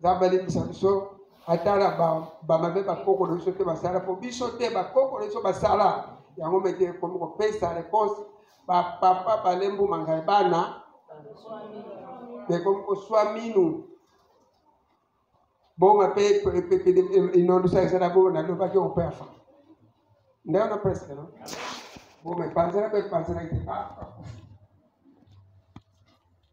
nzambe alimbisa biso ata na bamabe bakoko na biso te basala mpo biso te bakoko na biso basala yango mete ekomi kopesa reponse bapapa balembu mangai bana ekomi koswa minu bonga mpe inondisa ezala bo nalobaki operfa nde wana presque no bo mepanzela mpe epanzelaki te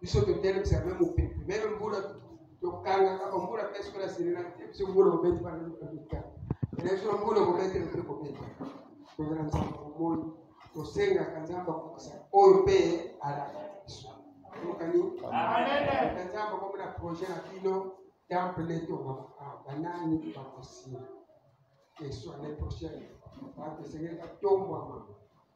biso totelemisa me mopepe meme mbula tokangaka bambula mpe soki naselela te biso mbula kobeti banaoka biso mbula kobetela mpe kobeta tozala nzambe bomoni tosengaka nzambe akokisa oyo mpe alaka biso okani nzambe akomi na projet na bino temple tongama ah, banani bakosila eswa le prochaine bato esengeli batombwama